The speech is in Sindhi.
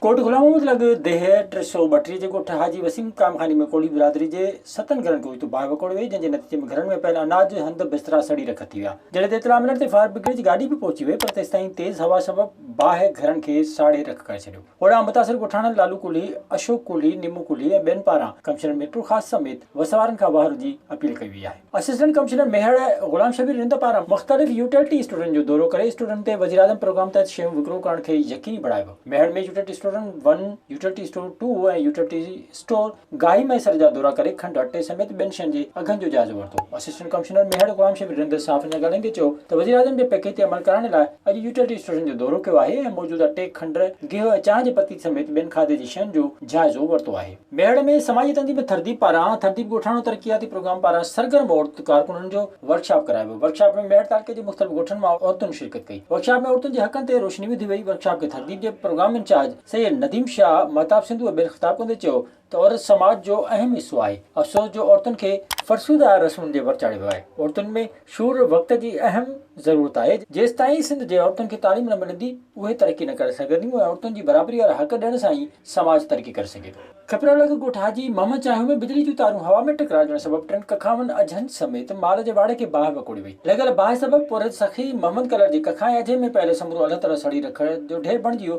ڪوٽ غلام محمد لڳ ديهه ٽي سؤ ٻٽيهه جي ڳوٺ حاجي وسيم ڪامخاني ۾ ڪوڙي برادري جي ستن گهرن ڪوئي تون باهه وڪوڙي وئي جنهن جي نتيجي ۾ گهرن ۾ پيل اناج، هنڌ، بسترا سڙي رک ٿي ويا. جڏهن ته اطلاع ملڻ تي فائر برگيڊ جي گاڏي به پهچي وئي پر تيستائين تيز هوا سبب باهه گهرن کي ساڙي رک ڪري ڇڏيو. اوڏانهن متاثر ڳوٺاڻن لالو ڪولهي، اشوڪ ڪولهي، نيمو ڪولهي ۽ ٻين پاران ڪمشنر ميرپورخاص سميت وس وارن کان واهرو جي اپيل ڪئي وئي آهي. اسسٽنٽ ڪمشنر ميهڙ غلام شبير رند پاران مختلف يوٽيلٽي اسٽورن جو دورو ڪري اسٽورن تي وزيراعظم پروگرام تحت شيون وڪرو ڪرڻ کي يقيني بڻايو. ميهڙ ۾ يوٽيلٽي اسٽورن one, utility store two ۽ utility store گائي Mahesar جا دورا ڪري کنڊ اٽي سميت ٻين شين جي اگهن جو جائزو ورتو. اسسٽنٽ ڪمشنر ميهڙ غلام شبير رند صحافين سان ڳالهائيندي چيو ته وزيراعظم جي پيڪيج تي عمل ڪرائڻ لاء اڄ يوٽيلٽي اسٽيشن جو دورو ڪيو آهي ۽ موجود اٽي، کنڊ، گيهه ۽ چانهه جي پتي سميت ٻين کاڌي جي شين جو جائزو ورتو آهي. ميهڙ ۾ سماجي تنظيم ٿرديپ پاران ٿرديپ ڳوٺاڻو ترقياتي پروگرام پاران سرگرم عورت ڪارڪنن جو ورڪشاپ ڪرايو ويو ورڪشاپ ۾ ميهڙ تعلقي جي مختلف ڳوٺن مان عورتن شرڪت ڪئي ورڪشاپ ۾ عورتن جي حقن تي روشني وڌي وئي ورڪشاپ کي ٿرديپ جي پروگرام انچارج سيد نديم شاهه مهتاب سنڌوء ٻين خطاب ڪندي چيو ته عورت سماج جو اهم حصو آهي، افسوس جو عورتن کي فرسوده رسمن جي ور چاڙهيو ويو آهي، عورتن ۾ شعور وقت جي اهم ضرورت آهي، جيستائين سنڌ جي عورتن کي تعليم نه ملندي اهي ترقي نه ڪري سگهنديون ۽ عورتن جي برابري وارا حق ڏيڻ سان ئي سماج ترقي ڪري سگهي ٿو. کپرالڳ ڳوٺ حاجي محمد چانهيو ۾ بجلي جون تارون هوا ۾ ٽڪراجڻ سبب ٽن ڪکاون اجهن سميت مال جي واڙ کي باهه وڪوڙي وئي، لڳل باهه سبب پورهيت سخي محمد ڪلر جي ڪکا ۽ اجهي ۾ پيل سمورو الهه تلهه سڙي رکڙ جو ڍير بڻجي ويو،